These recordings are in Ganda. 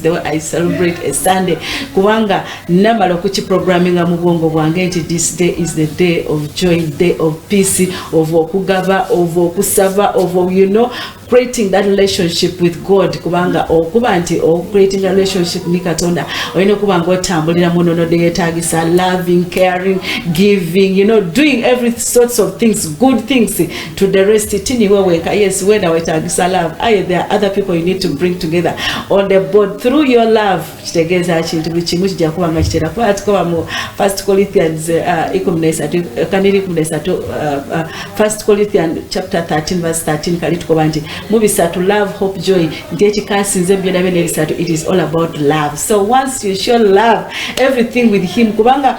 the way I celebrate a Sunday kubanga namala okuki programming mu bwongo bwange nti this day is the day of joy day of peace of okugaba of okusaba of you know creating that relationship with God kubanga okuba nti o creating a relationship ni Katonda oyina okuba nga otambulira mu nono de yetagisa loving caring giving you know doing every sorts of things good things to the rest tini weweka yes wena wetagisa love aye there are other people you need to bring together on the board through your love kitegeeza kintu buli kimu kijja kuba nga kitera kuba tukoba mu first corinthians uh, ikuminesatu kaniri ikuminesatu uh, uh, first corinthian chapter 13 verse 13 kali tukoba nti mu bisatu love hope joy nti ekikasinze byona byona ebisatu it is all about love so once you show love everything with him kubanga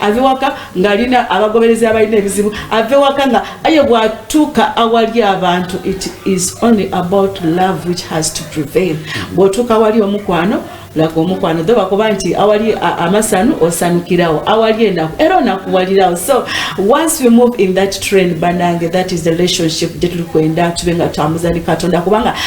ave waka ng'alina abagoberezi abalina ebizibu ave waka nga aye bw'atuuka awali abantu it is only about love which has to prevail bw'otuuka awali omukwano laga omukwano dho bakuba nti awali amasanu osanukirawo awali enaku era onakuwalirawo so once we move in that train banange that is the relationship gye tuli kwenda tube nga twamuzani katonda kubanga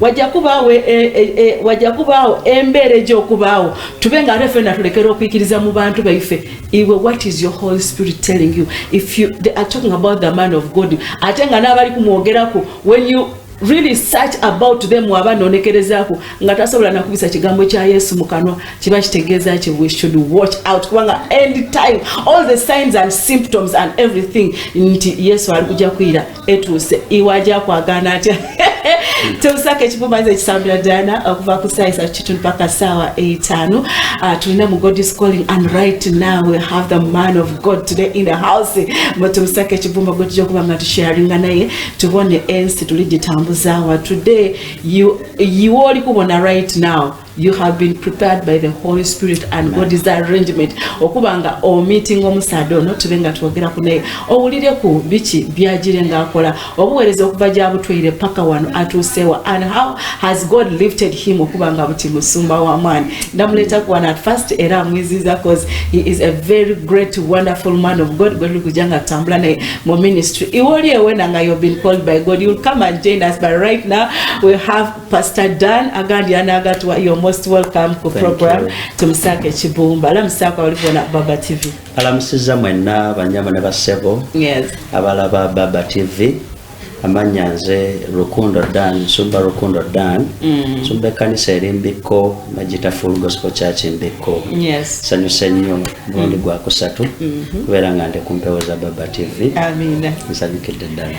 wajja kubaawo e, e, e, wajja kubaawo embeera egyokubaawo tube nga ate fena tulekera okwikiriza mu bantu baife iwe what is your holy spirit telling you if you they are talking about the man of god ate nga n'abali kumwogerako when you really search about them waba nonekerezaako nga tasobola nakubisa kigambo kya yesu mu kanwa kiba kitegeeza ki we should watch out kubanga end time all the signs and symptoms and everything nti yesu ali kujja kuyira etuuse iwaja kwagana atya teusaka ekivumaiza ekisambira dana okuva uh, ku saa isatu kitundu paka saawa etaano uh, tulina mu god is calling and right now we have the man of god today in the house mutuusaka ekivumba gwe tujja okuba nga tusharinga naye tubone ensi tuli gitambuzawa today iwe oli kubona right now you, you have been prepared by the holy spirit and god is arrangement okuba nga omeeting omusaada ono tube nga twogeraku naye owulireku biki byagire ngaakola obuweereza okuva gyabutweire paka wano atuusewa and how has god lifted him okuba nga buti musumba wamaani ndamuleeta ku wano at first era amwiziza cause he is a very great wonderful man of god gwetuli kujja nga tutambula naye mu ministry iwe oli ewena nga you've been called by god you'll come and join us but right now we have Pastor Dan agandi anagatwa you're most welcome ku program tumusaka ekibumba alamusako abali bona Baba TV alamusiza mwenna banyama ne basebo yes abalaba Baba TV amanya nze Rukundo Dan Sumba Rukundo Dan mm. Sumba kanisa eri Mbikko Majita Full Gospel Church Mbikko yes sanyu senyo mulundi mm. gwa kusatu mm -hmm. kubera nga ndi kumpewo za Baba TV amina nsanyukidde ddala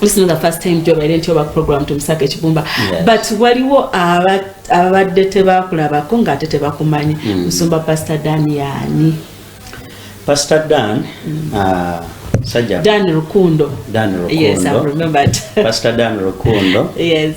this is not the first time job I didn't oba program to Msaka Chibumba yes. but waliwo ababadde tebakulabako nga ate tebakumanyi mm. musumba pastor Dan yani pastor Dan mm. uh, Sajja Dan Rukundo Dan Rukundo yes I've remembered pastor Dan Rukundo yes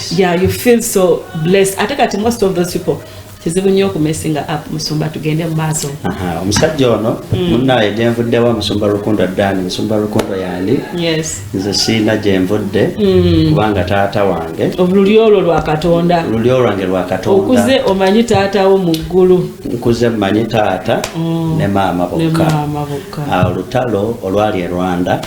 yeah you feel so blessed ate kati most of those people kizibu nnyo okumesinga app musumba tugende mu maaso omusajja ono mm. munaye gyenvuddewa musumba rukundo dani musumba rukundo yandi nze siina gyenvudde mm. kubanga taata wange oluli olwo lwakatonda oluli olwange lwakatonda okuze omanyi taatawo mu ggulu nkuze mmanyi taata mm. ne maama bokka olutalo olwali e rwanda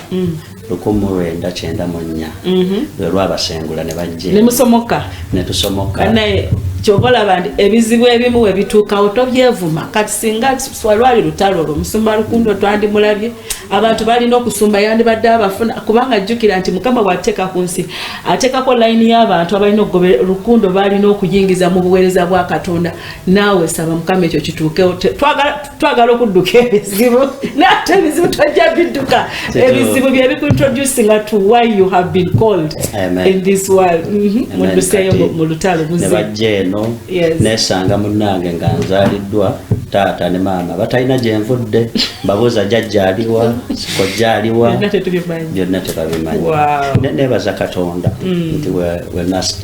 lukumu lwenda kyenda mu nnya mhm. lwe lwabasengula ne bajje ne musomoka ne tusomoka naye kyova olaba nti ebizibu ebimu we bituukawo tobyevuma kati singa lwali lutalo olwo musumba lukundo twandimulabye abantu balina okusumba yandibadde abafuna kubanga jjukira nti mukama bw'ateeka ku nsi ateekako layini y'abantu abalina okugoba lukundo balina okuyingiza mu buweereza bwa katonda naawe saba mukama ekyo kituukewo twagala twagala okudduka ebizibu nate ebizibu twajja bidduka ebizibu byebikuintroducinga to why you have been called Amen. in this world mhm. mudduseeyo mu lutalo buzibajja eno nesanga munange nga nzaliddwa taata ne maama batalina gyenvudde mbabuuza jajjaaliwa kojjaaliwa byonna tebabimanyi nebaza katonda mm. nti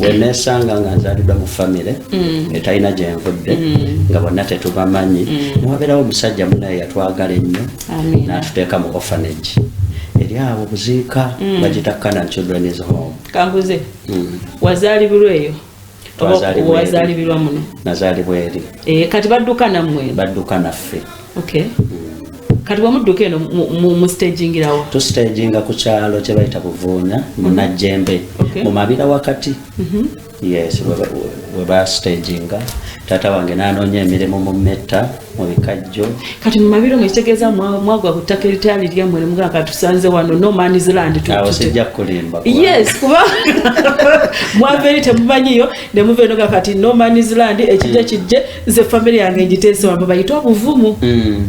wenesanga nga nzaliddwa mu famire mm. etalina gyenvudde mm. nga bonna tetubamanyi mm. newabeerawo omusajja munaye yatwagala ennyo n'atuteeka mu orphanage eri awo buziika bagita canan children is home kambuze wazaalibirwa eyo wazaalibirwa muno nazaalibwa eri eh, kati badduka nammwe badduka naffe okay kati wamudduka eno mustagingirawo tustaginga ku kyalo kyebayita buvuunya munajjembe mu mabira wakati mhm. Yes, we ba staging tata wange nanoonya emirimu mu metta mu bikajjo kati mu mabiro mwe kitegeeza mwagwa ku ttaka eritali lyammwe ne mugamba katusanze wano no man's land awo sijja kulimba yes kuba mwava eri temumanyiyo ne muva enoga kati no man's land ekijja kijje nze famire yange ngiteesewa mwe bayite obuvumu mm.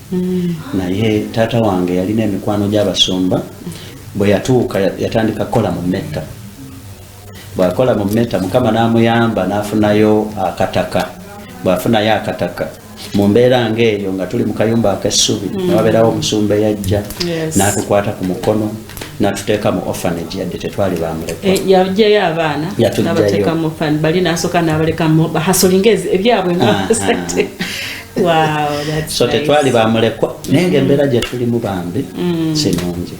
mm. naye taata wange yalina emikwano gy'abasumba bwe yatuuka yatandika kukola mu metta bwakola mu metta mukama n'amuyamba n'afunayo akataka bwafunayo akataka mu mbeera ng'eyo nga tuli mu kayumba ak'essubi mm. newabeerawo omusumba eyajja n'atukwata ku mukono natuteeka mu orphanage yadde tetwali bamulekayajjayo eh, abaana yatujjayo bali nasoka nabalekamu bahasolinga ebyabwe nga ah, ah. so tetwali bamulekwa naye nga embeera gye tulimu bambi mm. sinungi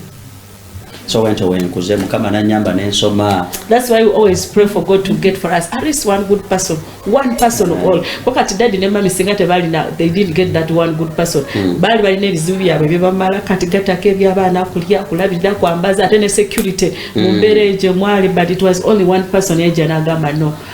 so wentyo wenkuze mukama nanyamba nensoma thats why we always pray for god to get for us at least one good person one person of all ko kati dadi ne mami singa tebalina they didn't get that one good person hmm. baali balina ebizibu byabwe byebamala kati gatako ebyabaana kulya kulabirira kwambaza ate ne security hmm. mu mbeera egyo mwali but it was only one person yajja nagamba no mm.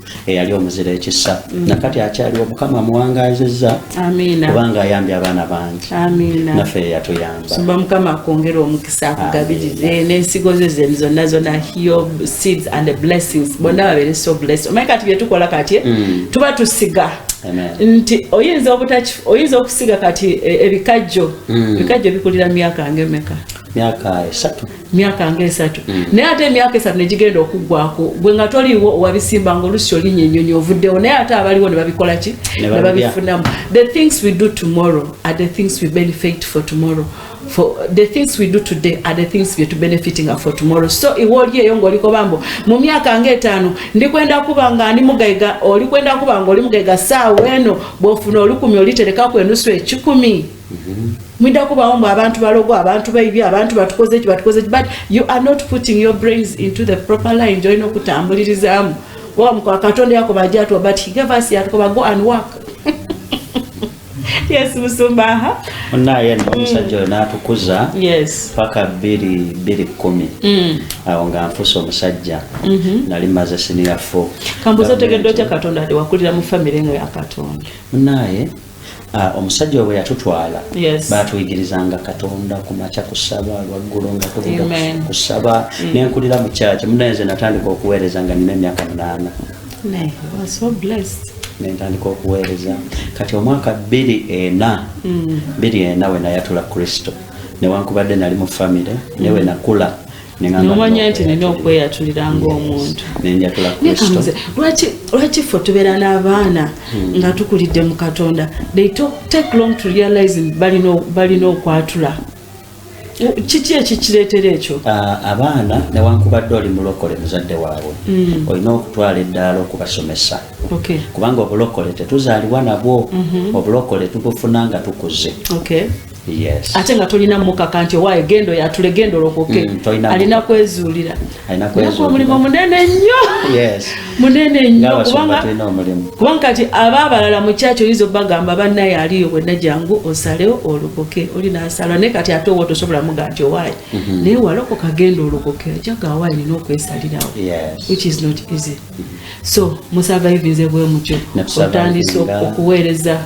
eyali omuzira ekisa mm. nakati akyaliwo mukama amuwangazizza kubanga ayambye abaana bangi naffe yeyatuyambasuba mukama akwongera omukisa akugabirize n'ensigo ze zeni zonna zonna your seeds and the blessings bonna babere so blessed omanyi kati byetukola kati eh? mm. tuba tusiga nti oyinza obutaki oyinza okusiga kati e, ebikajjo mm. ebikajjo bikulira myaka ngemeka myaka esatu myaka nga esatu mm. naye ate emyaka esatu negigenda okuggwako gwe nga toliiwo owabisimba nga olusi olinya enyonyi ovuddewo naye ate abaliwo nebabikola ki nebabifunamu the things we do tomorrow are the things we benefit for tomorrow for the things we do today are the things we're to benefiting for tomorrow so iwe oli eyo ng'oliko bambo mu myaka ng'etaano ndi kwenda kuba nga ndi mugaiga oli kwenda kuba nga oli mugaiga saawa eno bw'ofuna olukumi oliterekaku enusu ekikumi mwidda kubawo mbu abantu balogo abantu baibye abantu batukoze ki batukoze but you are not putting your brains into the proper line join okutambulirizamu oba mukwa katonda yakoba ajatwa but he gave us yatukoba go and work yes musumba aha onaye mm. omusajja oyo natukuza yes paka biri biri kumi mm. awo nga nfusa omusajja mm-hmm. nali maze siniya fo kambuza otegedde otya katonda ati wakulira mu famire nga ya katonda onaye Ah, omusajja webwe yatutwala yes. batuyigirizanga katonda kumaca kusaba lwaggulo nga tuvuga kusaba mm. nenkulira mu kyaki munayenze natandika okuweereza nga nina emyaka munaana nentandika okuweereza kati omwaka bbiri ena mm. bbiri ena wenayatula kristo newankubadde nali mu famire mm. newenakula nomanya nti nina okweyatulira ngaomuntu lwaki fe tubeera n'abaana hmm. nga tukulidde mu katonda they take long to realize balina okwatula kiki ekikireetera ekyo abaana newankubadde oli mulokole muzadde waabwe hmm. olina okutwala eddaala okubasomesa kubanga obulokole tetuzaliwa nabwo mhm. obulokole tubufuna nga tukuze Yes. ate nga tolina mukaka nti owaye gendo yatule gendo lokoke mm, alina kwezuulira naku omulimu munene nnyo munene nnyo kubanga kati aba abalala mukyaki oyinza obagamba banaye aliyo bwenna jangu osalewo olokoke oli nasala naye kati ate owa tosobola muga nti owaye mhm. naye walokoka genda olokoke ojaga awaye nina okwesalirawo which is not easy mhm. so musurvivinze bwemutyo otandise okuweereza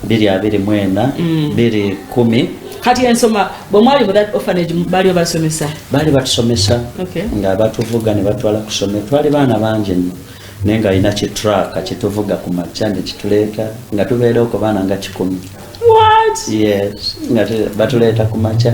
biri abiri mwena mm. biri kumi kati ensoma bwemwali mu that orphanage baliwo basomesa bali batusomesa okay. nga batuvuga nebatwala kusome twali baana bangi nno naye nga alina kitraka kituvuga ku makya nekituleeta nga tubeereo ku baana nga kikumi yes nga batuleeta ku makya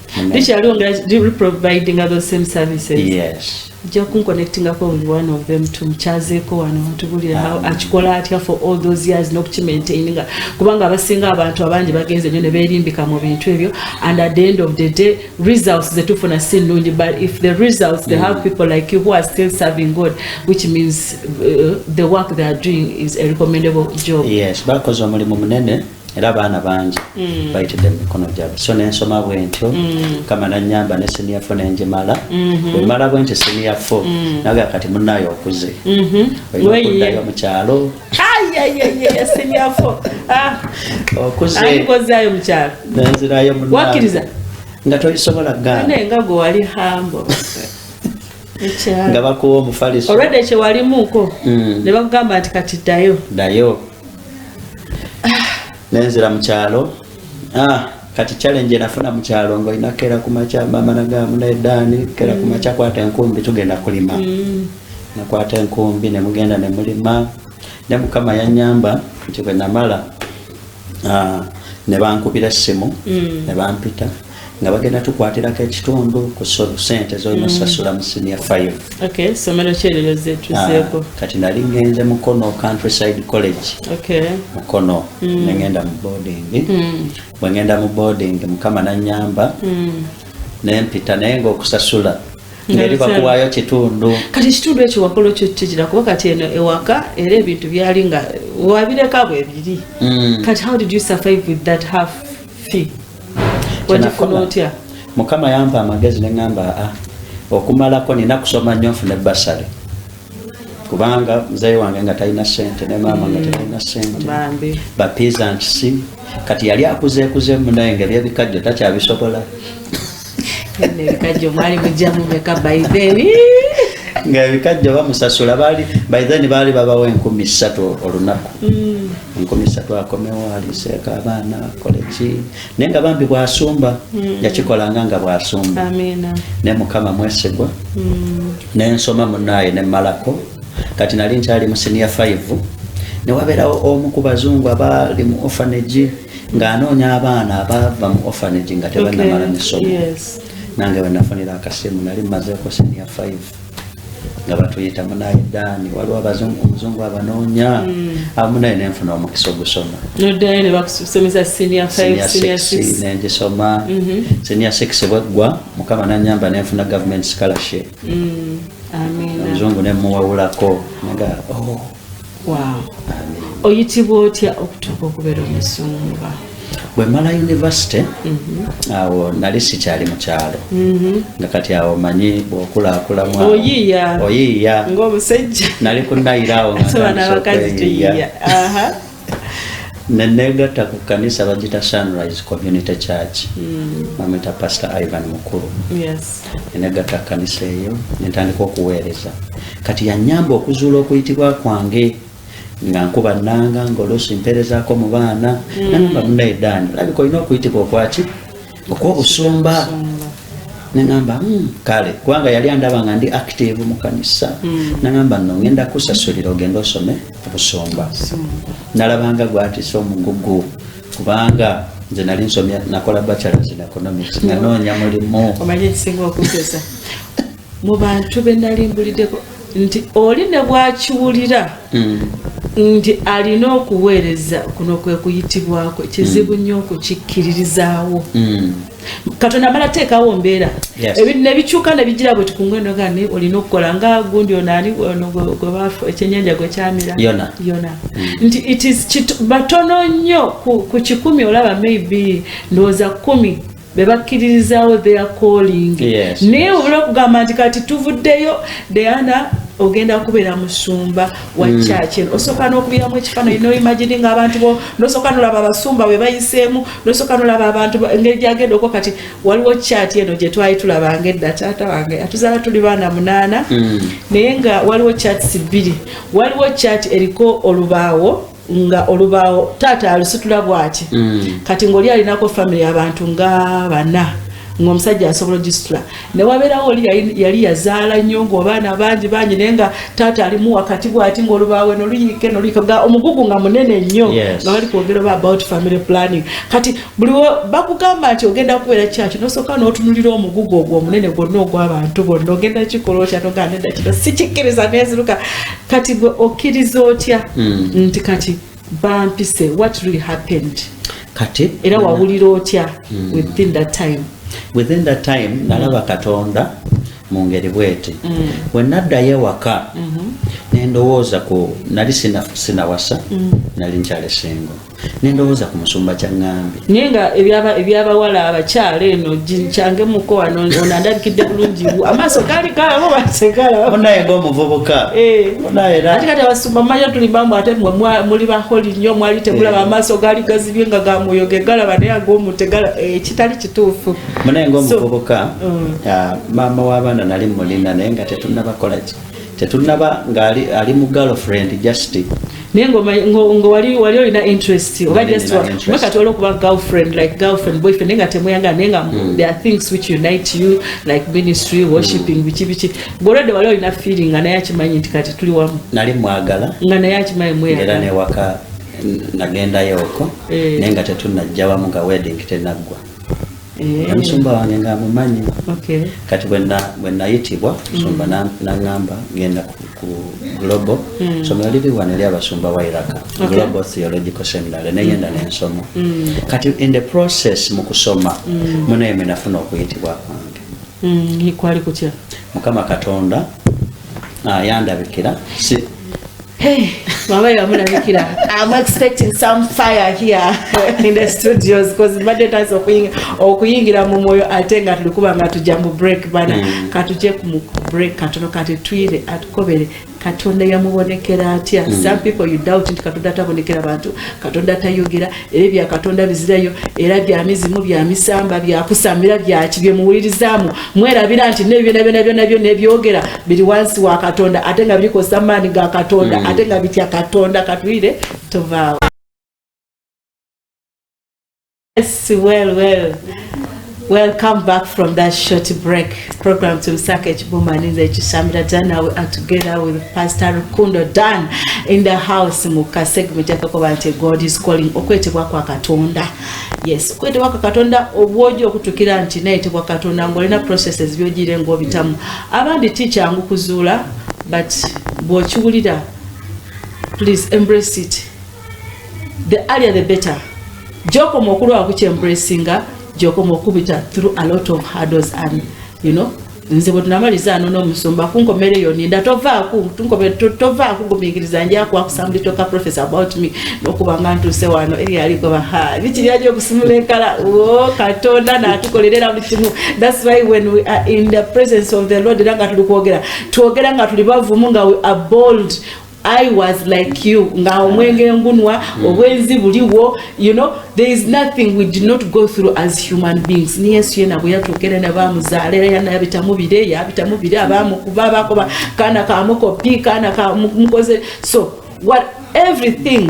likyali ongera reprovidinga those same services yes nja kunkonectingako with one of them tumukyazeeko wano atubulira um, akikola atya for all those years nokukimaintaininga kubanga abasinga abantu abangi bagenze nyo neberimbika mu bintu ebyo and at the end of the day results zetufuna si nnungi but if the results they have mm. people like you who are still serving god which means uh, the work they are doing is a recommendable job yes bakoze omulimu munene era abaana bangi mm. bayitidde mumikono gyabwe so nensoma bwentyo mm. kama nanyamba ne senior fo nenjimala mm-hmm. wemala bwentyo senior fo mm. naga kati munaye okuze mm-hmm. oyokudayo mukyalo ah. okuzeayo mukyalo nenzirayo wakiriza nga toyisobola ganengago wali hambo nga bakuwa omufaliso olwedde kyewalimuko mm. nebakugamba nti kati dayo dayo nenzira mu kyalo ah, kati challenge enafuna mu kyalo nga olina kera ku makya maama nagamba naye daani kera ku makya kwata enkumbi tugenda kulima mm. nakwata enkumbi ne mugenda ne mulima ne mukama yanyamba nti bwe namala ah, ne bankubira essimu mm. ne bampita nga bagenda tukwatirako ekitundu ku sente zolina osasula mm. mu senior five ah, kati nali ngenze mukono countryside college mukono mm. nengenda mu boarding mm. bwengenda mu boarding mukama nanyamba nempita naye nga okusasula ngeri bakuwayo kitundu kati ekitundu ekyo wakola okyo kigira kuba kati eno ewaka era ebintu byali nga wabireka bwebiri kati how did you survive with that half fee wagifuna otya mukama yampa amagezi neŋamba a ah, okumalako nina kusoma nnyo nfune basale kubanga muzeyi wange nga talina sente ne maama nga talina sente bapiiza nkisi kati yali akuzeekuzemu naye nga ebyebikajjo takyabisobola ebikajjo mwali mujjamu meka by then nga ebikajjo bamusasula baali by then baali babawo enkumi ssatu olunaku mm. enkumi ssatu akomewo aliseeka abaana akole ki naye nga bambi bwasumba mm. yakikolanga nga bwasumba ne mukama mwesigwa mm. nensoma munaaye nemalako kati nali nkyali mu siniya 5 newabeerawo omu ku bazungu abaali mu ofanage ng'anoonya abaana abaava mu orphanage nga tebannamala misomo nange wenafunira akasimu nali mumazeeko seniya 5 nga batuyita munaye daani waliwo omuzungu abanoonya hmm. abamu naye nenfuna omukisa ogusoma nengisoma seniya 6 bweggwa mukama nanyamba nenfuna government scholarship hmm. omuzungu nemuwawulako nga oh. Wow. Oyitibwa otya okutuuka okubeera omusumba? Bwe mala yunivasite mhm. awo nali sikyali mu kyalo mhm. nga kati awo manyi bw'okulakulamu oyiiya oyiiya ng'omusajja nali kunayira awo nga nenegatta ku kanisa bagita sunrise community church mm. bamwita pastor ivan mukulu nenegatta ku kanisa eyo nentandika okuweereza kati yanyamba okuzuula okuyitibwa kwange nga nkuba nanga ngaoluusi mpeerezako mu baana mm. namba munaye daani olabika olina okuyitibwa okwaki okw'obusumba nengamba hmm, kale kubanga yali andaba nga ndi active mu kanisa hmm. nengamba no ngenda kusasulira ogenda osome obusumba nalabanga gwatisa omugugu kubanga nze nali nsomya nakola bachelors in economics nanoonya mulimu mu bantu be nali mbuliddeko nti oli ne bwakiwulira hmm. nti alina okuweereza kuno kwe kuyitibwako kizibu hmm. nnyo okukikkiririzaawo hmm. katonda amala teekawo mbeera nebikyuka nebigira bwe tukungwenoga ni olina okukola nga gundi onaani ekyenyanja gwe kyamira yona nti batono nnyo ku kikumi olaba maybe ndowooza kumi bebakkiririzaawo their calling yes, naye yes. obula okugamba nti kati tuvuddeyo deana ogenda kubeera musumba wa mm. church eno osooka n'okubiramu ekifaananyi noimagini nga abantu bo nosooka nolaba abasumba bwe bayiseemu nosooka nolaba abantu engeri gyagenda okwo kati waliwo chati eno gye twali tulabanga edda taata wange atuzaala tuli baana munaana mm. naye nga waliwo chats bbiri waliwo chati eriko olubaawo nga olubaawo taata alusitula bwati mm. kati ngaoli alinako famiry abantu nga bana ngaomusajja asobola ogisitula newabeerawo oli yali yazaala nnyo ngaobaana bangi bangi naye nga taata alimu wakati bwati ngaolubaawe noluyiike noluyiike ga omugugu nga munene nnyo nga bali kwogera oba about family planning kati buli bakugamba nti ogenda kubeera kyaki nosooka notunulira omugugu ogwo omunene gwonna ogwabantu bonna ogenda kikola okyanoganeda kino sikikkiriza neziruka kati gwe okkiriza otya hmm. nti kati bampise what really happened kati era wawulira otya hmm. within that time within that time hmm. nalaba katonda mu ngeri bweti bwe naddayo ewaka mm-hmm. nendowooza ku nali sinawasa nali nkyalesingo mm -hmm. nendowooza ku musumba kyaŋŋambi naye nga ebyabawala abakyala eno kyange muko wano ono andabikidde bulungi amaaso gaali galabo basegalabnaye ngaomuvubuka eh. ati kati abasumba mumanya tuli bambu ate mwe muli baholi nnyo mwali tegulaba eh. amaaso gaali gazibye nga gamwoyo gegalaba naye agoomutegala eh, kitali kituufu munaye ngaomuvubuka mm. ah, maama w'abaana nali mulina naye nga tetunabakolaki tetunaba nga ali, ali mu girlfriend just naye ngowali wali olina interest oba just kati waliwo kuba girlfriend like girlfriend boyfriend naye nga temuyagala naye nga mm. there are things which unite you like ministry mm. worshipping biki biki golwedde wali olina feeling nga naye akimanyi nti kati tuli wamu nali mwagala nga naye akimanyi mweyagala newaka nagendayo oko eh. naye nga tetunajja wamu nga wedding tenaggwa Eh. omusumba wange nga amumanyi kati bwenayitibwa musumba mm. nangamba genda ku global mm. somero liri wano eri abasumba wa iraka global theological seminary neyenda mm. nensoma kati in the process mu kusoma munaye mwenafuna okuyitibwa kwange kwali kutya mukama katonda ayandabikira ah, Hey, mama you are mulabikira. I'm expecting some fire here in the studios because mbadde taasa okuyingira okuyingira mu mwoyo ate nga tulikuba nga tujja mu break bana mm. katuje ku break katono kati twire atukobere katonda yamubonekera atya mm. some people you doubt nti katonda atabonekera bantu katonda tayogera era ebya katonda bizirayo era bya mizimu bya misamba bya kusambira bya kibye muwulirizamu mwerabira nti ne byona byona byona byona ebyogera biri wansi wa katonda ate nga biriko samani ga katonda mm. ate nga bitya katonda katwire tovaawo yes well well Welcome back from that short break program to Msaka Chibuma Ninza Chishamira Jana. We are together with Pastor Rukundo Dan in the house muka segment yakokoba nti God is calling okwetebwa kwa Katonda. Yes, okwetebwa kwa Katonda obwojo okutukira nti naye tebwa Katonda ngolina processes byojire ngobitamu. Abandi teacher ngu kuzula but bwokiwulira please embrace it the earlier the better gyokoma okulwala kukyembracinga gyokoma okubita through a lot of hurdles and you know nze bwe tunamaliza ano n'omusumba kunkomera eyo ninda tovaaku tovaaku gumingiriza nja kwakusamulitoka profes about me nokubanga ntuuse wano eri alikoba ha bikiri aja okusimula enkala o katonda natukolerera buli kimu thats why when we are in the presence of the lord era nga tuli kwogera twogera nga tuli bavumu nga we are bold I was like you nga omwenge ngunwa mm. obwenzi buliwo you know there is nothing we did not go through as human beings ni yesu yena bwe yatuukera ne bamuzaala era yana yabitamu bire yabitamu bire abamukuba bakoba kaana kamukopi kaana kamukoze so what everything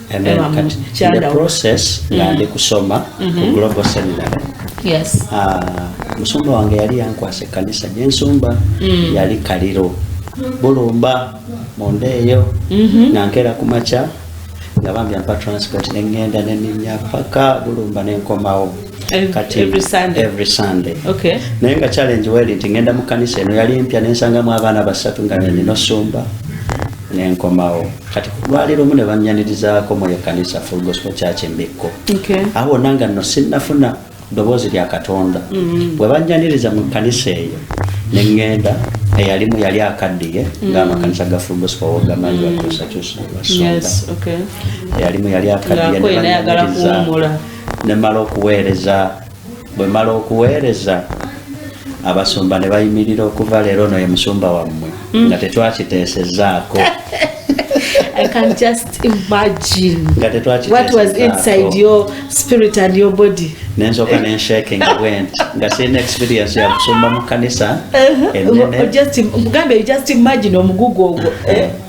And then um, kati, in the process mm. nga ndi kusoma mm -hmm. ku mm-hmm. global seminary yes. uh, musumba wange yali yankwasa ekkanisa gyensumba mm. yali kaliro bulumba munda eyo mm -hmm. nga nkeera ku makya nga bambi ampa transport neŋŋenda neninya paka bulumba nenkomawo naye nga challenge weri nti ŋenda mu kanisa eno yali mpya nensangamu abaana basatu nga neninosumba nenkomawo kati kulwali lumu ne bannyanirizaako mu ekkanisa full gospel church embikko awo wonna nga nno sinnafuna ddoboozi lya katonda mm-hmm. bwe bannyaniriza mu kkanisa eyo ne ŋŋenda eyalimu yali akaddiye mm-hmm. ng'amakanisa ga full gospel wogamanyi mm-hmm. bakyusakyusa basonda eyalimu yali akaddiye ne bannyaniriza ne mala okuweereza bwe mala okuweereza abasumba ne bayimirira okuva leero ono ye musumba wammwe mm. nga tetwakiteesezaako I can just imagine what was inside your spirit and your body. Nenzoka ne shaking went. Nga seen experience ya kusumba mu kanisa. Uh-huh. Just mugambe just imagine omugugu ogwo. Eh? Uh-huh.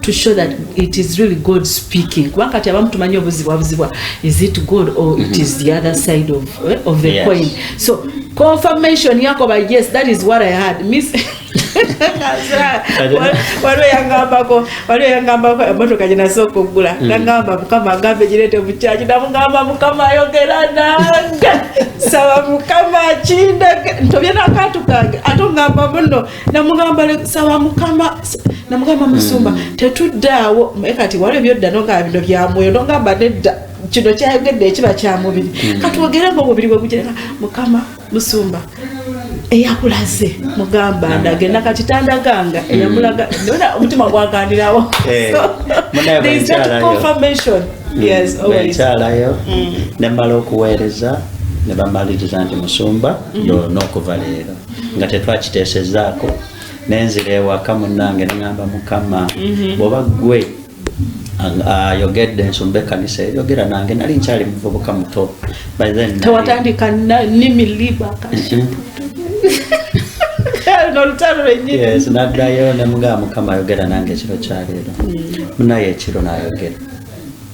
to show that it is really God speaking kubanga kati abamu tumanyi obuzibwabuzibwa is it God or it is the other side of, eh, of the yes. coin so confirmation yako by yes that is what I had miss waliwo yangambako waliwo yangambako emotoka gyenasa okugula mm. nangamba mukama agambe girete mukyaki namugamba mukama ayogera nange saba mukama kindege ntobye nakatukage ate ongamba muno namugamba saba mukama namugamba musumba hmm. tetuddaawo naye kati waliwo byodda nogamba bino byamwoyo nogamba nedda kino kyayogedde ekiba kyamubiri hmm. katwogere nga omubiri gwe gujereka mukama musumba eyakulaze mugamba hmm. ndage nakakitandaganga eyamulaga nona omutima gwagandirawo eh, ekyalayo nemala okuweereza nebamaliriza nti musumba yoona okuva leero nga tetwakiteesezaako nenzira ewaka munange nengamba mukama mhm. bwoba gwe ayogedde ensumba ekanisa eyogera nange nali nkyali muvubuka muto tewatandika nimilibaka naddayo nemugaa mukama ayogera nange ekiro kyaleero mm. munaye ekiro nayogera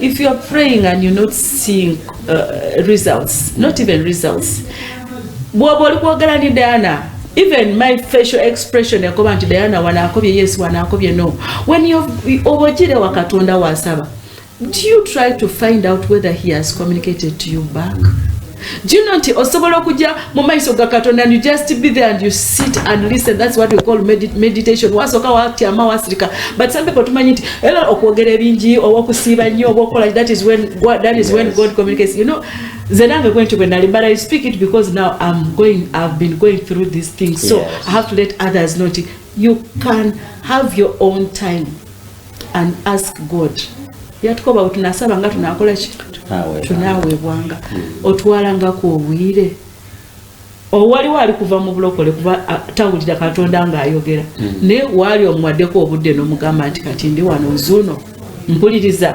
If you are praying and you're not seeing uh, results, not even results, bwoba oli kwogera ni Diana even my facial expression yakoba nti Diana wanaakobye yes wanaakobye no when you obojire wa Katonda wasaba do you try to find out whether he has communicated to you back Do you know nti osobola okujja mu maiso ga katonda and you just be there and you sit and listen that's what we call medit meditation wasooka watyama wasirika but some people tumanyi nti era okwogera ebingi oba okusiiba nnyo oba okukola that is when God, that is yes. when God communicates you know nze nange kwenti bwe nali but i speak it because now i'm going i've been going through these things so yes. i have to let others know nti you can have your own time and ask God yatukoba bwe tunasaba nga tunakola ki tunaweebwanga hmm. otwalangako obwire owaliwo ali kuva mu bulokole kuba tawulira katonda ng'ayogera hmm. naye waali omuwaddeko obudde n'omugamba nti kati ndi wano nzuuno mpuliriza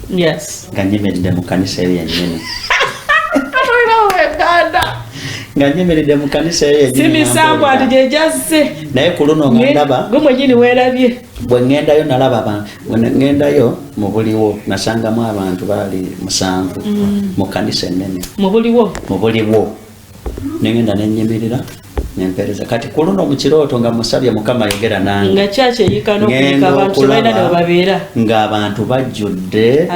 yes nga nyemedde mu kanisa eyo yennyini nga nyemeredde mu kanisa eyo simisango ati gyegyazze naye ku luno nga ndaba gwe mwenyini weerabye bwe ŋŋendayo nalaba abantu bwe ŋŋendayo mu buliwo nasangamu abantu baali musanvu mm. mu kanisa ennene mu buliwo mu buliwo nengenda nenyimirira nempereza kati kuluno mukirooto nga musabye mukama yogera nange ngaabantu bajjudde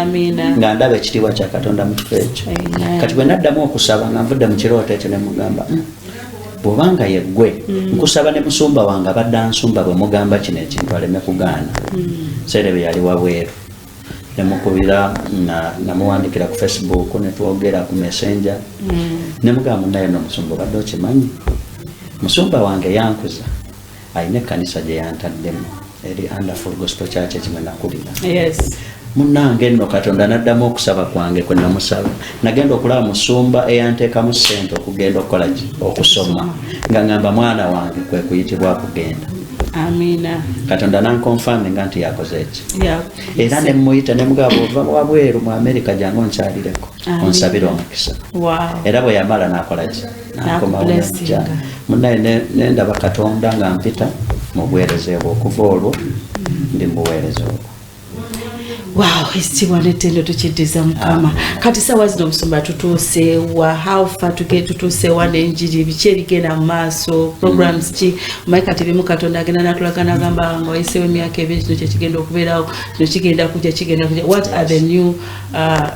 nga ndaba ekitiibwa kya katonda mu kifo ekyo kati bwe naddamu okusaba nga nvudde mu kirooto ekyo nemugamba mm, bwobanga yeggwe mm. nkusaba ne musumba wange abadde ansumba bwe mugamba kino ekintu aleme kugaana mm. seere bye yali wabweru nemukubira namuwandikira ku facebook netwogera ku messenger mm. nemugamba naye nomusumba obadde okimanyi musumba wange yankuza alina ekkanisa gye yantaddemu eri underful gospel church ekimwe nakulira munange nno katonda naddamu okusaba kwange kwe namusaba nagenda okulaba musumba eyanteekamu ssente okugenda okukola ki okusoma nga ngamba mwana wange kwe kuyitibwa kugenda katonda nankonfaminga nti yakoze eki era nemuyita nemugaba ova wabweru mu amerika jange onkyalireko onsabire omukisa era bwe yamala nakolaki nakomaoja munaye nendaba katonda nga mpita mu buweereza ebwo okuva olwo ndi mu buweereza obwo wow ekitiibwa netendo tukiddiza mukama kati sawa zino omusumba tutuusewa howfa tutuusewa nenjiri biki ebigenda mu maaso programs ki maye kati bimu katonda agenda natulaga nagamba nga wayisewo emyaka ebiri kino kyekigenda okubeerawo kino kigenda kuja kigenda kuja what are the new uh,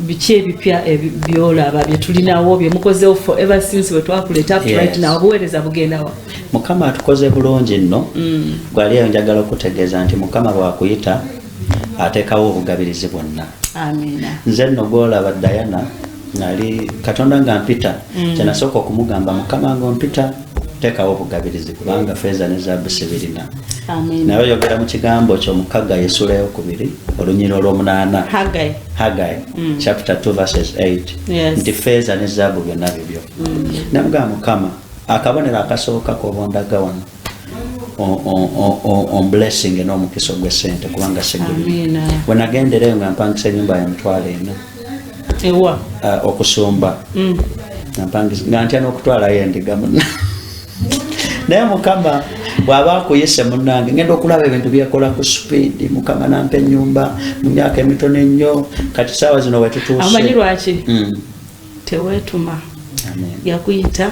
biki ebipya byolaba byetulinawo byemukozewo for ever since wetwakuleta right now obuweereza bugendawa mukama atukoze bulungi nno mm. gwaliyo njagala okutegeeza nti mukama bwakuyita atekawo obugabirizi bwonna nze nno gwolaba diana nali katonda nga mpita mm. kyenasooka okumugamba mukama nga ompita tekawo obugabirizi kubanga feeza ne zaabu sibirina naye oyogera mu kigambo kyo mu kaggayi essula eyokubiri olunyira olwomunaana haggayi mm. chapter 2 verses 8 nti feeza ne zaabu byonna bibyo mm. namugaa mukama akabonero akasooka kobondaga wano omblessing n'omukisa ogw'essente kubanga siguli wenagendereyo nga mpangisa enyumba ya mitwalo ena ewa uh, okusumba mm. nga ntya n'okutwalayo endiga muna naye mukama bwaba akuyise munange ngenda okulaba ebintu byekola ku supiidi mukama nampa enyumba mu myaka emitono ennyo kati saawa zino wetutuuseamanyi lwaki mm. tewetuma yakuyita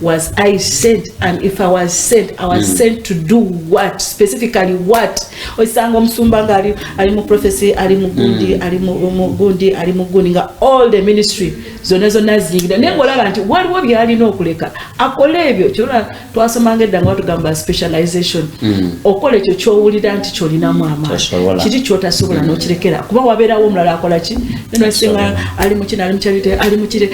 was I sent and if I was sent I was mm. sent to do what specifically what osanga omusumba nga ali ali mu prophecy ali mu gundi mm. ali mu gundi ali mu gundi nga all the ministry zona zona zingira ne ngola banti wali wo byali no kuleka akole ebyo kyora twasoma ngedda nga tugamba specialization mm. okole ekyo kyowulira nti kyolina mu ama kiri kyotasobola mm. nokirekera kuba wabera wo mulala akola ki neno singa ali mu kina ali mu charity ali mu kire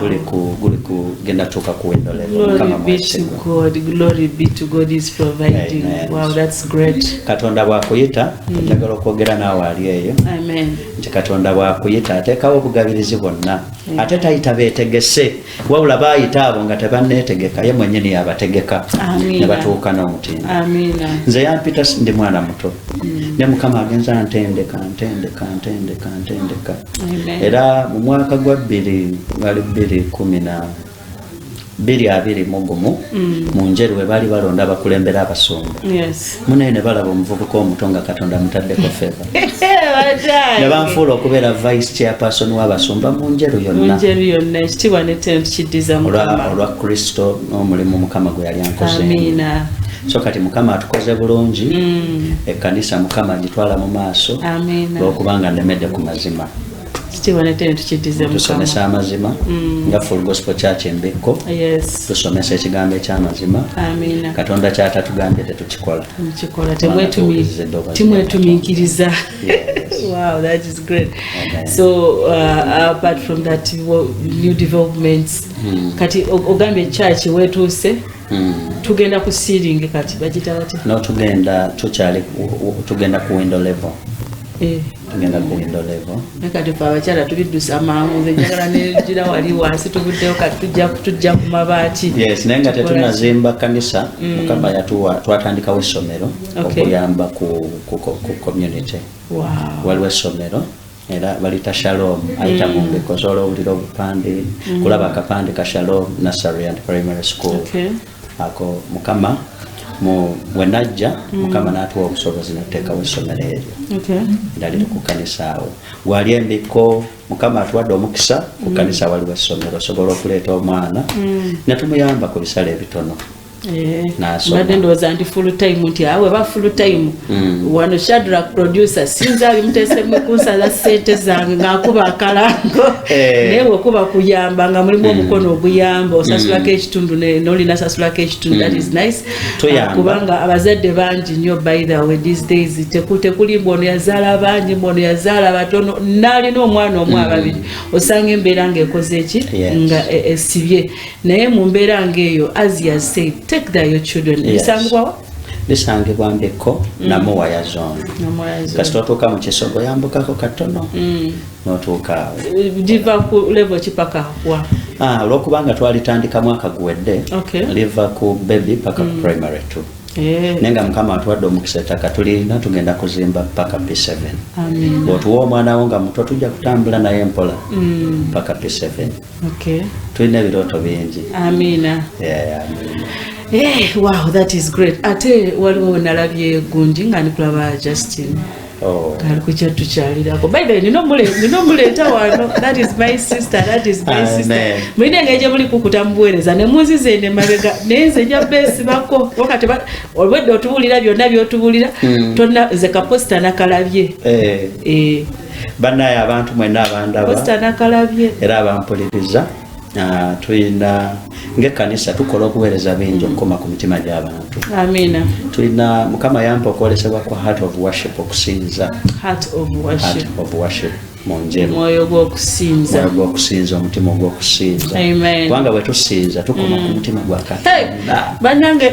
guli ku guli ku genda tuka ku window level kama mwese God glory be to God is providing amen. wow that's great katonda bwa kuyita mm. njagala okwogera naawe ali eyo amen nti katonda bwa kuyita atekawo obugabirizi bwonna mm. ate tayita betegese wabula bayita abo nga tebannetegeka ye mwenyini yabategeka ne batuuka n'omutindo nze yampita ndi mwana muto mm. ne mukama agenza ntendeka ntendeka ntendeka ntendeka, ntendeka. era mu mwaka gwa bbiri gali bbiri kumi na bbiri abiri mu gumu mm. mu njeru we baali balonda abakulembera abasumba munaye ne balaba omuvubuka omuto nga katonda mutaddeko feva ne banfuula okubeera vice chairperson w'abasumba mu njeru yonna olwa kristo omulimu mukama gwe yali ankoze so kati mukama atukoze bulungi mm. ekkanisa mukama agitwala mu maaso lwokubanga nemedde ku mazima tusomesa amazima mm. nga full gospel church embekko tusomesa ekigambo ekyamazima katonda kyatatugambye tetukikola timwetuminkiriza wow that is great so uh, apart from that new developments hmm. kati ogambye kyaki wetuuse hmm. tugenda ku sealing kati bagita bati no tugenda tukyali tugenda ku window level eh. tugenda ku window level nakati fe abakyala tubiddusa mangu nzenjagala negira wali wansi tubuddeyo kati tujja ku mabaati yes naye nga tetunazimba kanisa mm. mukama yatuwa twatandikawo essomero okuyamba ku community waliwo essomero era balita shalom ayita mm. mumbeko osobola owulira obupande mm. kulaba akapande ka shalom nursery and primary school ako mukama wenajja mm. mukama natuwa obusobozi natekawo essomero eryo era liri ku kanisa awo gwali embikko mukama atuwadde omukisa ku kanisa waliwo essomero osobola okuleeta omwana netumuyamba ku bisala ebitono Eh, mbadde ndowooza nti full time nti awe ah, ba full time mm. wano shadrak producer sinza alimutesemu kunsala sente zange ngaakuba akalango eh. naye wekuba kuyamba nga mulimu mm. omukono oguyamba osasulako mm. ekitundu nolina sasulako ekitundu that is nice ah, kubanga abazadde bangi nnyo by the way these days tekuli mbu ono yazaala bangi mbu ono yazaala batono naalina omwana omu ababiri osanga embeera ngaekoze eki nga e, esibye naye mu mbeera ng'eyo as he has said take there your children ebisangibwawa bisangibwa mbikko mm. namuwaya zone kasita otuuka mu kisogo yambukako katono mm. notuuka awo giva ku level kipaka wa ah, olwokubanga twalitandika mwaka guwedde liva ku baby paka ku mm. primary two Eh. naye nga mukama atuwadde omukisa ettaka tulina tugenda kuzimba paka p7 bwotuwa omwana wo nga muto tujja kutambula naye mpola mm. paka p7 Okay. Tulina ebirooto bingi. Amina. Yeah, yeah, amina. Hey, eh, wow, that is great. Ate waliwo nalabye gundi nga ndikulaba Justin. Oh. Ali kukyattu kyalirako. By the way, nino mule, nino mule tawano. That is my sister, that is my Amen. sister. Mwine ngeje muli kukuta mbuwereza. Ne muzi zende mabega. Neze nja besi bako. Wakati ba, olwede otubulira, vyona vyotubulira. Mm. Tona, zeka posta na kalabye. Eh. Eh. banaye abantu mwena abandaba era abampuliriza ah, tulina ngekanisa tukola okuweereza bingi okukoma ku mitima gy'abantu tulina mukama yampa okwolesebwa kwa heart of worship okusinza heart of worship mwoyo gwokusinza omutima ogwokusinza kubanga bwetusinza tukoma ku mm. mutima gwa katonda banange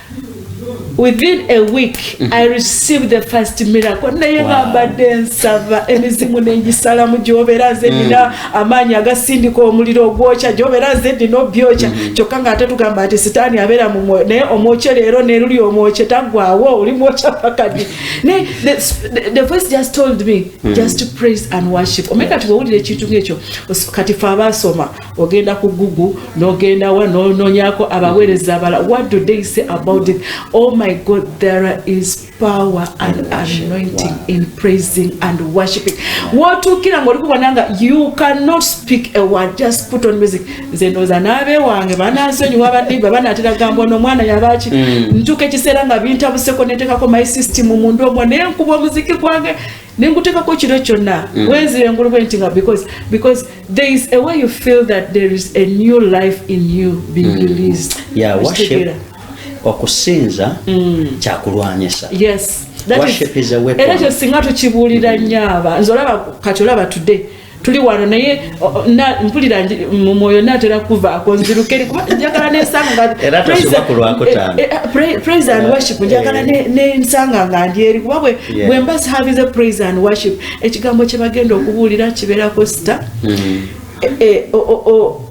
within a week mhm. i received the first miracle naye bambadde nsaba emizimu nengisalamu gyobeera nze nina mm. amaanyi agasindika omuliro ogwokya gyobeera nze nina obyokya mhm. kyokka nga ate tugamba nti sitaani abeera mu mwoyo naye omwokye leero neruli omwokye tagwawo oli mwokya pakadi naye the voice just told me mm. just praise and worship omanye kati wewulira ekintu ngaekyo kati fe abaasoma ogenda ku google nogendawa nononyako abaweereza abala what do they say about it oh my god there is power and anointing in praising and worshiping wotuukira nga olikubona nga you cannot speak a word just put on music nze ndooza naabe wange banansonyiwa baniba banatera gamba ono omwana yabaki mm. ntuuka ekiseera nga bintabuseko netekako my system mundu omwo naye nkuba omuziki gwange nenkutekako kiro kyonna mm. wenzira engulu bwenti nga because because there is a way you feel that there is a new life in you being mm. released yeah, worship okusinza mm. kyakulwanyisa yes era kyo singa tukibuulira nnyo aba nze olaba kati olaba today tuli wano naye mpulira mu mwoyo natera kuvaako nzirukeri kuba njagala nensanga eh, eh, eh, praise and worship njagala nensanga nga ndi eri kuba bwe mba sihavize praise and worship ekigambo kye bagenda okubuulira kibeerako sita mm-hmm.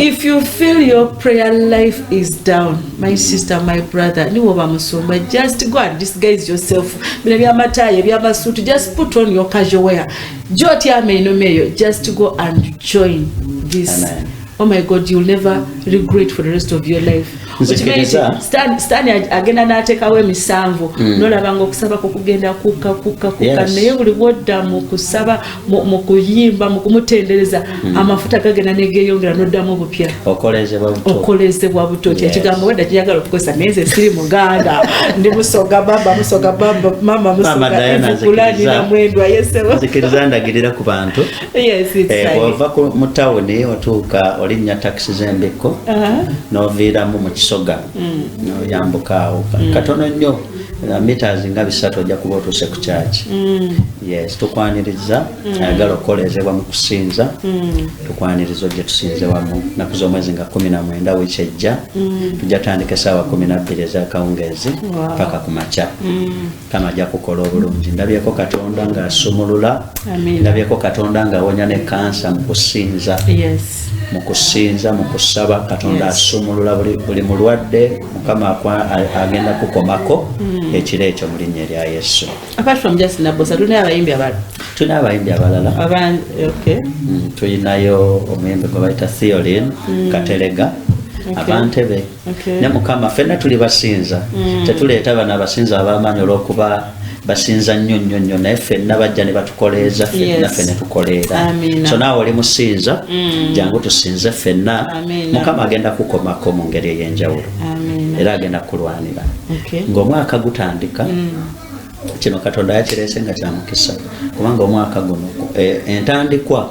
if you feel your prayer life is down my sister my brother niwe oba musumba just go and disguise yourself bino byamatayo ebyamasuutu just put on your casual wear gyotyama enoma eyo just go and join this Amen. oh my god you'll never regret for the rest of your life sitani agenda n'ateekawo emisanvu mm. nolabanga okusaba kukugenda kukka kukka kukka naye buli bwodda mu kusaba mu kuyimba mu kumutendereza mm. amafuta gagenda negeyongera noddamu obupya okolezebwa buto kye kigambo wedda kiyagala okukozesa naye nze siri muganda ndi musoga bamba musoga bamba mama musogakulanira mwendwa yeseosikiriza ndagirira ku bantu bwova eh, mu tawuni otuuka olinnya takisi z'embikko uh-huh. noviiramu mu kisoga mm. noyambukaawo mm. katono nnyo uh, meters nga bisatu ojja kuba otuuse ku kyaki mm. yes tukwaniriza mm. ayagala okukoleezebwa mu kusinza mm. tukwaniriza ojje tusinze wamu naku z'omwezi nga kumi na mwenda wiiki ejja tujja tandika esaawa kumi nabbiri ezakawungeezi paka ku makya kama ajja kukola obulungi ndabyeko katonda ng'asumulula ndabyeko katonda ng'awonya ne kansa mu kusinza mu kusinza mu kusaba katonda asumulula buli mulwadde mukama agenda kukomako hmm. ekiro ekyo mu linnya erya yesu tulina abayimbi abalala tulina abayimbi abalala hmm, tulinayo omuyimbi gwe bayita theolin hmm. katelega abantebe ne mukama fenna tuli basinza tetuleeta bano abasinza abamaanyi olwokuba basinza nnyo nnyo nnyo naye ffenna bajja ne batukoleeza ffennaffe ne tukoleera so naawe oli musinza mm. jangu tusinze ffenna mukama agenda kukomako mu ngeri ey'enjawulo era agenda kukulwanira ng'omwaka gutandika mm. kino katonda yakireese nga kyamukisa kubanga omwaka guno e, entandikwa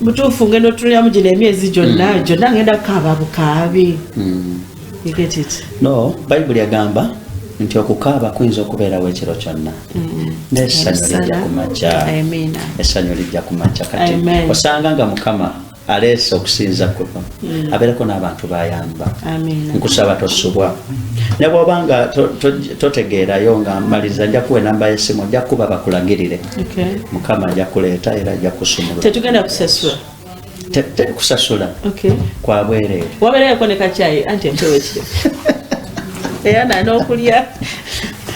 mutuufu ngenda otuliramu gino emyezi gyonna hmm. gyonna ngenda kukaaba bukaabi hmm. no bayibuli agamba nti okukaaba kuyinza okubeerawo ekiro kyonna hmm. nesanyu lijja kumakya esanyu lijja kumakya kati osanga nga mukama aleese okusinza kuno abeereko n'abantu bayamba nkusaba tosubwa ne bwoba nga totegeerayo nga maliza njakuwa enamba y'essimu njakuba bakulagirire mukama ajja kuleeta era ajja kusumula tetugenda kusasula teri kusasula kwa bwereere wabeerayo koneka kyayi anti empewo ekiro era nanokulya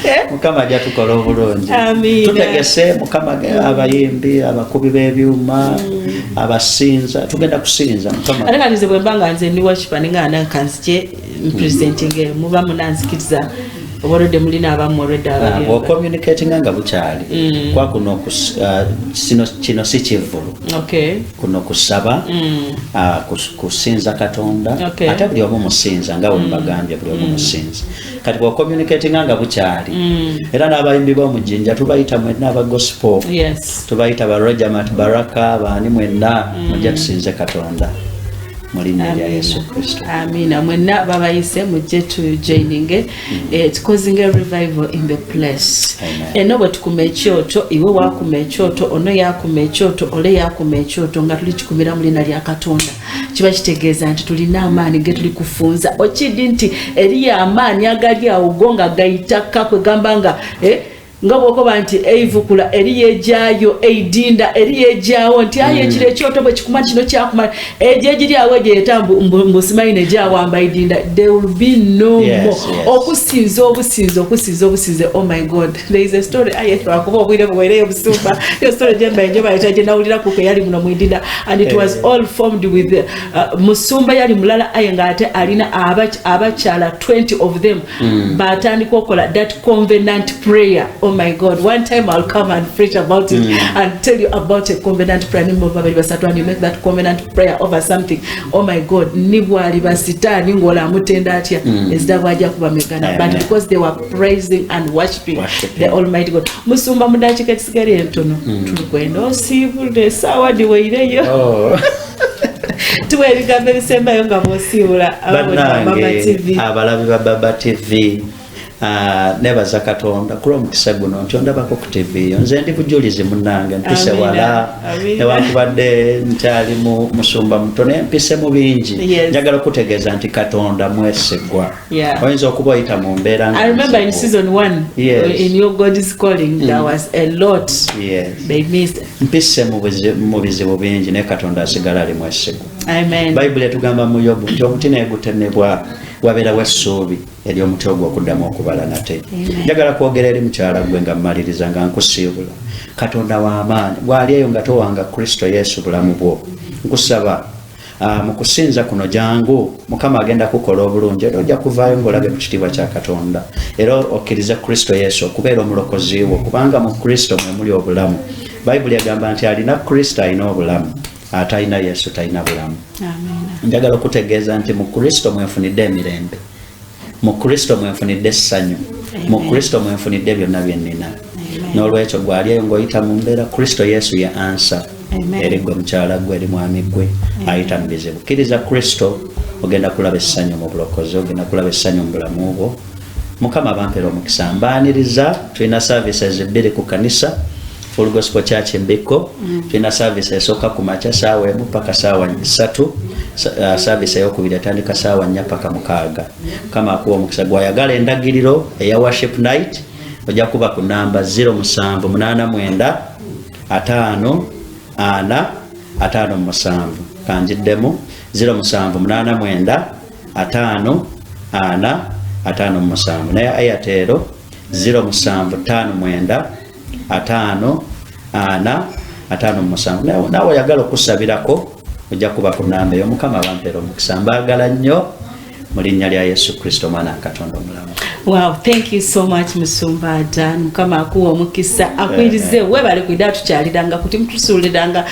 eh? mukama ajja tukola obulungi tutegese mukama abayimbi abakubi b'ebyuma mm. abasinza tugenda kusinza mukama ate kati nze bwemba nga nze ndi wakipa ninga nankanzije mpresentinga muba munanzikiriza oba olwedde mulina abamu olweddeocommunicatinga ah, nga bukyali mm. kwa kuno ah, kino si kivvulu kuno kusaba mm. ah, kusinza katonda ate buli omu musinza nga wembagambye mm. buli omu musinza kati bwocommunicatinga nga bukyali era n'abayimbi b'omujinja tubayita mwenna aba gospel tubayita ba rogermat baraka baani mwenna mujja tusinze katonda mu linnya lya yesu kristo amiina mwenna babayise mujje tujoininge eh, tukozinga revival in the place eno bwe tukuma ekyoto iwe wakuma ekyoto ono yakuma ekyoto ole yakuma ekyoto nga tuli kikumira mu linnya lya katonda kiba kitegeeza nti tulina amaanyi ge tuli kufunza okidi nti eriyo amaanyi agali awo go nga gayita kakwegamba nga eh, nga bwokoba nti eivukula eri yegyayo eidinda eri yegyawo nti aye mm. ekiro ekyoto bwe kikuma kino kyakumala egyo egiri awo egyo yeta mbusimanyi negyawamba eidinda there will be no yes, more yes. okusinza obusinzi okusinza obusinze oh my god there is a story aye twakuba obwire buwereyo busumba yo story gyembaye njo bayita gye nawulira kuko eyali muno mu idinda and it was eh. all formed with uh, musumba yali mulala aye nga ate alina abakyala 20 of them Mm. batandika okola that convenant prayer oh my god one time i'll come and preach about it mm. and tell you about a convenant prayer ni mumba bali basatu and you make that convenant prayer over something oh my god ni bwali basitani ngola amutenda atya mm. ezida bwaja kuba megana but because they were praising and worshiping, worshiping. the almighty god musumba mudakika kisigari entono mm. tukwenda osibule sawa diweireyo oh. tuwa ebigambo ebisembayo nga bwosiibula abalabi ba baba tv Ah, nebaza katonda kula omukisa guno nti ondabako ku tv yo nze ndi bujulizi munange mpise wala newankubadde nkyali musumba muto naye mpise mu bingi njagala okutegeeza nti katonda mwesigwa Yeah. oyinza okuba oyita mu mbeera nga I remember in nzibu. season one Yes. Mm. in your God is calling there was a lot Yes. they missed. mpise mu buzi- mu bizibu bingi naye katonda asigala ali mwesigu Amen. bayibuli etugamba mu yobu nti omuti naye gutemebwa wabeerawo essuubi eri omuti ogwo okuddamu okubala nate Amen. njagala kwogera eri mukyala gwe nga mmaliriza nga nkusiibula katonda w'amaanyi bw'ali eyo nga towanga kristo yesu bulamu bwo nkusaba Ah, mu kusinza kuno jangu mukama agenda kukola obulungi era ojja kuvaayo ngaolabye ku kitiibwa kya katonda era okkirize kristo yesu okubeera omulokozi wo kubanga mu kristo mwe muli obulamu bayibuli egamba nti alina kristo alina obulamu atalina yesu talina bulamu njagala okutegeeza nti mu kristo mwefunidde emirembe mu kristo mwenfunidde essanyu mu kristo mwenfunidde byonna byennina n'olwekyo gwali eyo ng'oyita mu mbeera kristo yesu ye ansa eri gwe mukyala gwe eri mwami gwe ayita mu bizibu kkiriza kristo ogenda kulaba essanyu mu bulokozi ogenda kulaba essanyu mu bulamu bwo mukama bampera omukisa mbaaniriza tulina services bbiri ku kanisa Full Gospel Church Mbikko mm. tulina service esooka ku makya saawa emu paka saawa satu uh, service eyokubiri atandika saawa nnya paka mukaaga kama akuwa omukisa gwayagala endagiriro eya worship night ojja kuba ku namba 0789 ataano ana ataano musanvu kanjiddemu 0789 ataano ana ataano musanvu naye ayatero 0759 ataano ana ataano musanvu naawe oyagala okusabirako ojja kuba ku namba eyo mukama bampeera omukisa mbaagala nnyo mu linnya lya yesu kristo omwana wa katonda omulamu wow thank you so much musumba dan mukama akuwa omukisa akwirize webale kwida tukyaliranga kuti mutusuuliranga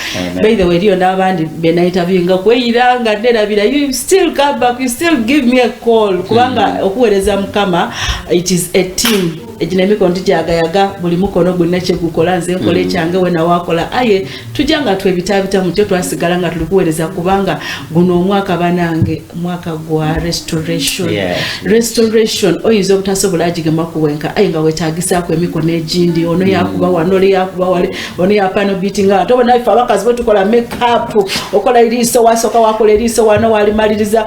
by the way eriyo n'abandi benaitabyinga kweyiranga nerabira you still come back you still give me a call kubanga mm. okuweereza mukama it is a team egina emikono tujagayaga buli mukono gwonna kyegukola nze nkola mm. ekyange wena wakola aye tujja nga twebitabita mukyo twasigala nga tuli kuwereza kubanga guno omwaka banange mwaka gwa restoration restoration oyinza obutasobola agigema kuwenka aye nga wetagisako emikono egindi ono yakuba mm. wano oli yakuba wali ono yapano biti nga ate obonafe abakazi bwetukola makeup okola eriiso wasoka wakola eriiso wano walimaliriza